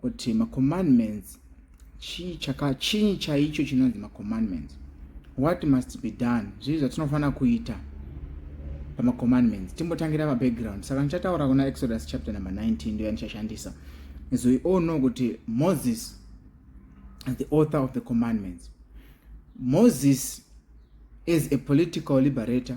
kuti macommandments chii chaka chii chaicho chinonzi macommandments what must be done zvii zvatinofanira kuita pamacommandments timbotangira mabackground saka ndichataura kuna exodus chapter number 19 ndoya ndichashandisa as we all know kuti moses is the author of the commandments moses is a political liberator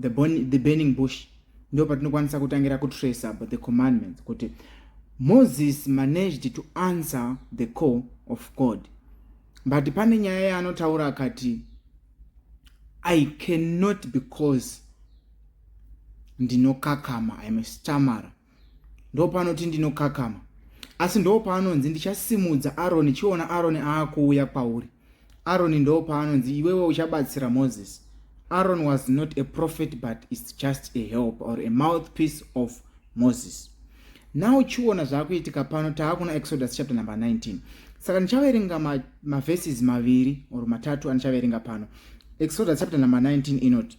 the, burn, the burning bush ndo patinokwanisa kutangira kutracer but the commandments kuti moses managed to answer the call of god but pane nyaya yaanotaura akati i cannot because ndinokakama im a stammerer ndopanoti ndinokakama asi ndopaanonzi ndichasimudza aroni chiona aroni aakuuya kwauri aroni ndopaanonzi iwewe uchabatsira moses aron was not a prophet but is just a help or a mouth piece of moses now chiona zvaakuitika pano taakuna exodus chapter number 19 saka ndichaverenga maverses ma maviri or matatu andichaverenga pano exodus chapter number 19 inoti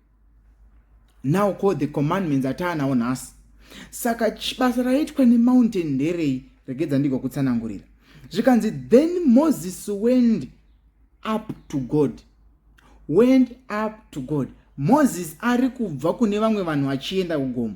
now ko the commandments ataanawo nhasi saka basa raitwa nemountain nderei regedza ndigo kutsanangurira zvikanzi then moses wend up to god wend up to god moses ari kubva kune vamwe vanhu achienda kugomo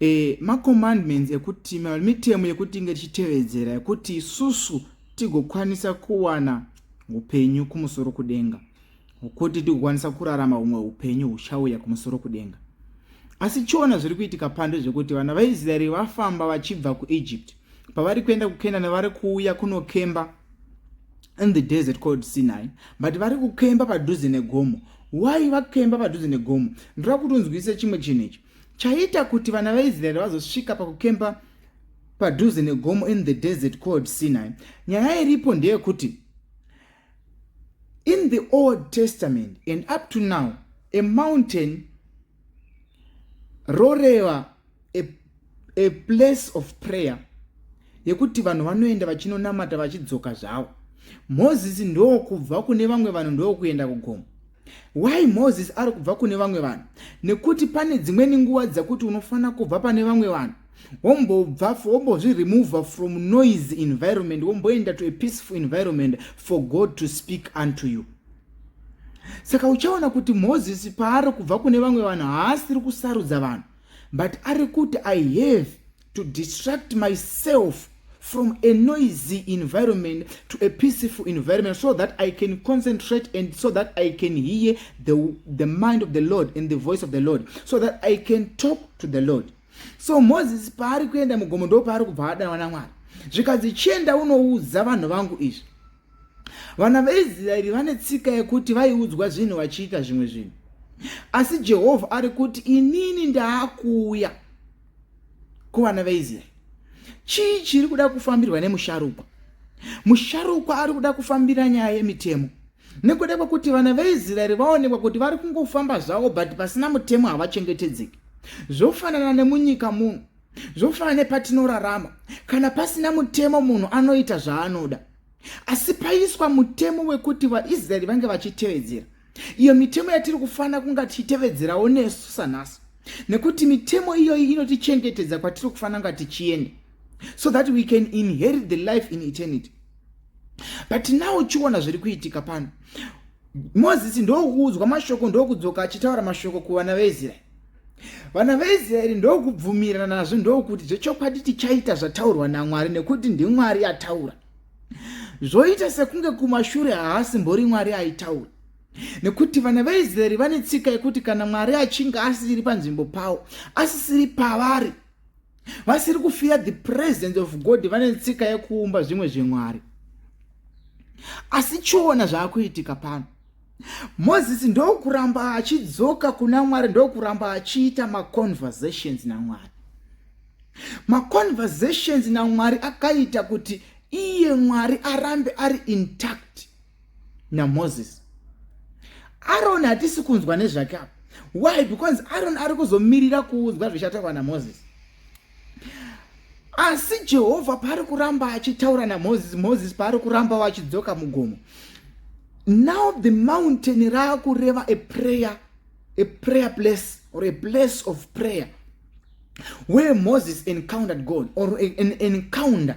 e, macommandments ekuti mitemo yekuti inge tichitevedzera yekuti isusu tigokwanisa kuwana upenyu kumusoro kudenga kuti tigokwanisa kurarama humwe upenyu huchauya kumusoro kudenga asi chiona zviri kuitika pando zvekuti vana vaisraeri vafamba vachibva kuegypt pavari kuenda kukenani vari kuuya kunokemba in the desert called sinai but vari kukemba padhuze negomo why vakemba padhuze negomo ndoda kuti unzwisise chimwe chinhu ichi chaita kuti vana vaisraeri vazosvika pakukemba padhuze negomo in the desert called sinai nyaya iripo ndeyekuti in the old testament and up to now a mountain roreva a, a place of prayer yekuti vanhu vanoenda vachinonamata vachidzoka zvavo moses ndokubva kune vamwe vanhu ndokuenda kugomo why moses ari kubva kune vamwe vanhu nekuti pane dzimweni nguva dzekuti unofanira kubva pane vamwe vanhu wombobva wombozviremova from noise environment womboenda to a peaceful environment for god to speak unto you saka uchaona kuti moses paari kubva kune vamwe vanhu haasiri kusarudza vanhu but ari kuti i have to distract myself from a noisy environment to a peaceful environment so that i can concentrate and so that i can hear the, the mind of the lord and the voice of the lord so that i can talk to the lord so moses paari kuenda mugomo ndo paari kubva adanwa namwari zvikanzi chienda unoudza vanhu vangu izvi Vana veIsraeri vane tsika yekuti vaiudzwa zvinhu vachiita zvimwe zvinhu, asi Jehovha ari kuti inini ndaakuuya kuvana veIsraeri. Chii chiri kuda kufambirwa nemusharukwa? Musharukwa ari kuda kufambira nyaya yemitemo nekuda kwekuti vana veIsraeri vaonekwa kuti vari kungofamba zvavo but pasina mutemo havachengetedzeki. Zvofanana nemunyika muno Zvofana nepatinorarama, kana pasina mutemo munhu anoita zvaanoda. Asi paiswa mutemo wekuti vaIsraeri vange vachitevedzera. Iyo mitemo yatiri kufanira kunga tichitevedzerawo nesu sanhasi. Nekuti mitemo iyoyi inotichengetedza kwatiri kufanira kunga tichienda. So that we can inherit the life in eternity. But now uchiona zviri kuitika pano. Mozisi ndookuudzwa mashoko ndokudzoka achitaura mashoko kuvana veIsraeri. vana veisraeri ndokubvumirana nazvo ndokuti zvechokwadi tichaita zvataurwa namwari nekuti ndimwari ataura zvoita sekunge kumashure haasimbori mwari aitaura nekuti vana veisraeri vane tsika yekuti kana mwari achinge asisiri panzvimbo pavo asisiri pavari vasiri kufira the presence of god vane tsika yekuumba zvimwe zvemwari asi chiona zvaakuitika pano Moses ndokuramba achidzoka kuna Mwari ndokuramba achiita ma conversations na Mwari. Ma conversations na Mwari akaita kuti iye Mwari arambe ari intact na Moses. Aaron hatisi kunzwa nezvake apa. Why? Because Aaron ari kuzomirira kuudzwa zvichataurwa na Moses. asi jehovha paari kuramba achitaura namozisi mozisi paari kuramba vachidzoka mugomo now the mountain raakureva a prayer a prayer place or a place of prayer where moses encountered god or an encounter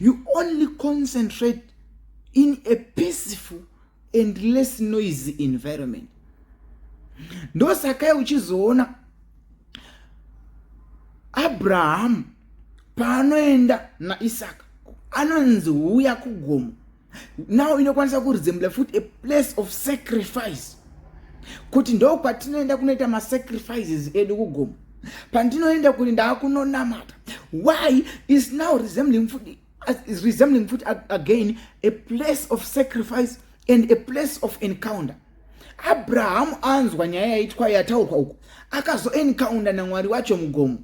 you only concentrate in a peaceful and less noisy environment ndosakai uchizoona abrahamu paanoenda naisaka anonzi huya kugomo now inokwanisa kurizembla futi a place of sacrifice kuti ndo kwatinoenda kunoita masacrifices edu kugomo pandinoenda kuri ndaakunonamata why is now resembling futi is resembling futi again a place of sacrifice and a place of encounter abrahamu anzwa nyaya yaitwa yataurwa uku akazoencounter namwari wacho mugomo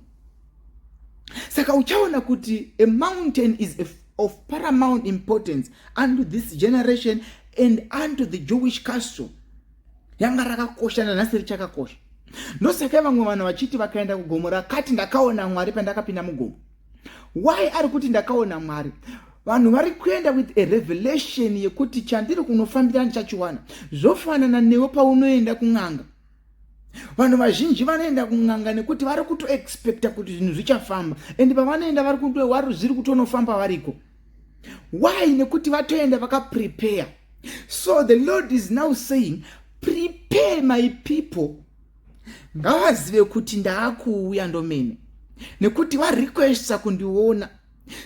saka uchaona kuti a mountain is a, of paramount importance unto this generation and unto the jewish castle yanga rakakosha nanhasi richakakosha ndosaka vamwe vanhu vachiti vakaenda kugomo rakati ndakaona mwari pandakapinda mugomo why ari kuti ndakaona mwari vanhu vari kuenda with a revelation yekuti chandiri kunofambira ndichachiwana zvofanana newe paunoenda kun'anga vanhu vazhinji vanoenda kun'anga nekuti vari kutoexpecta kuti zvinhu zvichafamba and pavanoenda vari kutoari zviri kutonofamba variko why nekuti vatoenda vakaprepare so the lord is now saying prepare my people ngavazive kuti ndaakuuya ndomene nekuti varequesta kundiona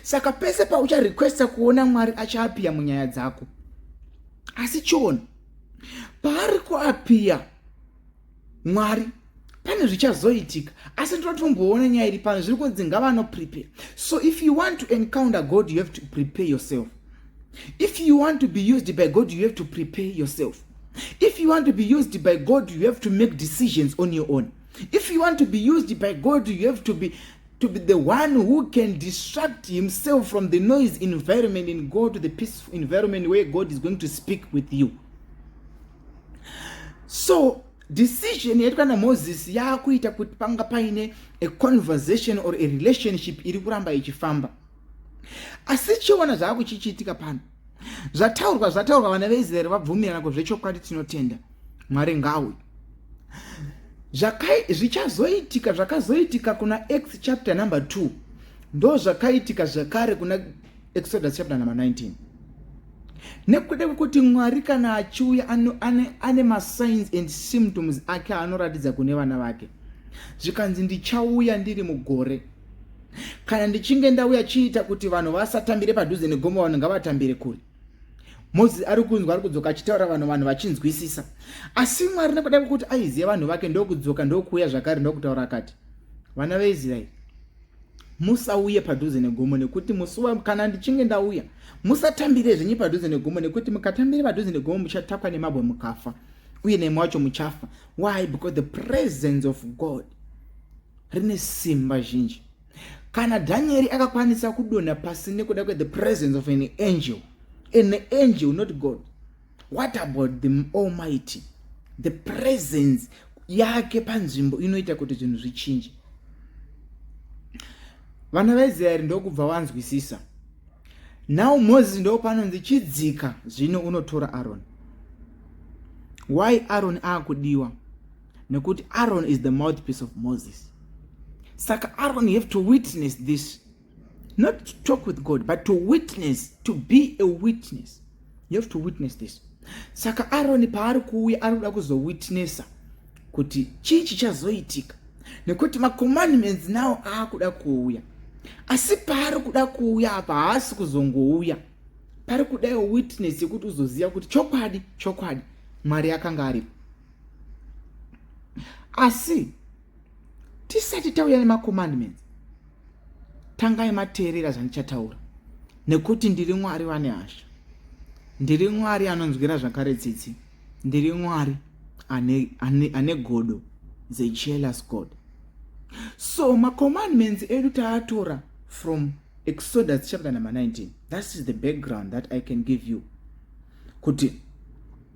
saka pese paucharequesta kuona mwari achaapiya munyaya dzako asi chiona paari kuapiya mwari pane zvichazoitika asi ndinotomboona nyaya iri pano zviri kunzi ngavanoprepare so if you want to encounter god you have to prepare yourself if you want to be used by god you have to prepare yourself if you want to be used by god you have to make decisions on your own if you want to be used by god you have to be to be the one who can distract himself from the noise environment and go to the peaceful environment where God is going to speak with you. So, decision yaitwa namoses yaakuita kuti panga paine a conversation or a relationship iri kuramba ichifamba asi chiona zvaakuchichiitika pano zvataurwa zvataurwa vana veisraeri vabvumirana ko zvechokwadi tinotenda mwari ngawi zvichazoitika zvakazoitika kuna x chapter number 2 ndo zvakaitika zvekare kuna exodus chapter number 19 nekuda kwekuti mwari kana achiuya ane, ane, ane masigns and symptoms ake anoratidza kune vana vake zvikanzi ndichauya ndiri mugore kana ndichinge ndauya chiita kuti vanhu vasatambire padhuze negomo vanhu ngavatambire kure mozisi ari kunzwa ari kudzoka achitaura vanhu vanhu vachinzwisisa asi mwari nekuda kwekuti aiziva vanhu vake ndokudzoka ndokuuya zvakare ndokutaura akati vana veisraeri musauye padhuze negomo nekuti musi kana ndichinge ndauya musatambire zvenyu padhuze negomo nekuti mukatambire padhuze negomo muchatakwa nemabwe mukafa uye nemwe wacho muchafa why because the presence of god rine simba zhinji kana dhanieri akakwanisa kudonha pasi nekuda kwethe presence of an angel an angel not god what about the almighty the presence yake panzvimbo inoita kuti zvinhu zvichinje vana vaisraeri ndokubva wanzwisisa now moses ndo panonzi chidzika zvino unotora aroni why aroni akudiwa nekuti aron is the mouthpiece of moses saka aron have to witness this not to talk with god but to witness to be a witness you have to witness this saka aroni paari kuuya ari kuda kuzowitnessa kuti chii chichazoitika nekuti macommandments nawo aakuda kuuya asi paari kuda kuuya apa haasi kuzongouya pari kudaiwo witness yekuti uzoziva kuti chokwadi chokwadi mwari akanga aripo asi tisati tauya nemacommandments tangai mateerera zvandichataura nekuti ndiri mwari vane hasha ndiri mwari anonzwira zvakare tsitsi ndiri mwari ane, ane, ane godo zejealous god so macommandments edu taatora from exodus chapter number 19 that is the background that i can give you kuti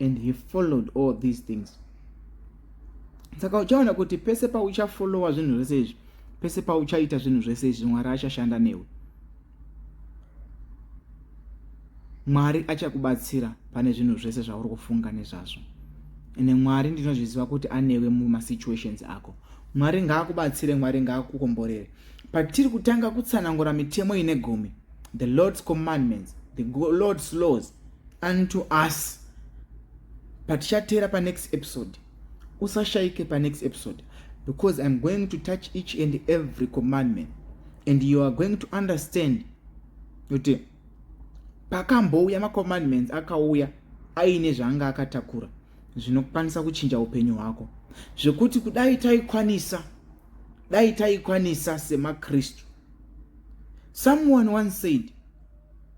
and he followed all these things saka uchaona kuti pese pauchafollowa zvinhu zvese izvi pese pauchaita zvinhu zvese izvi mwari achashanda newe mwari achakubatsira pane zvinhu zvese zvauri kufunga nezvazvo ende mwari ndinozviziva kuti anewe mumasituations ako mwari ngaakubatsire mwari ngaakukomborere patiri kutanga kutsanangura mitemo ine gumi the lord's commandments the lord's laws unto us patichateera panext episode usashayike panext episode because iam going to touch each and every commandment and you are going to understand kuti pakambouya macommandments akauya aine zvaanga akatakura zvinokwanisa kuchinja upenyu hwako zvekuti kudai taikwanisa dai taikwanisa semakristu someone once said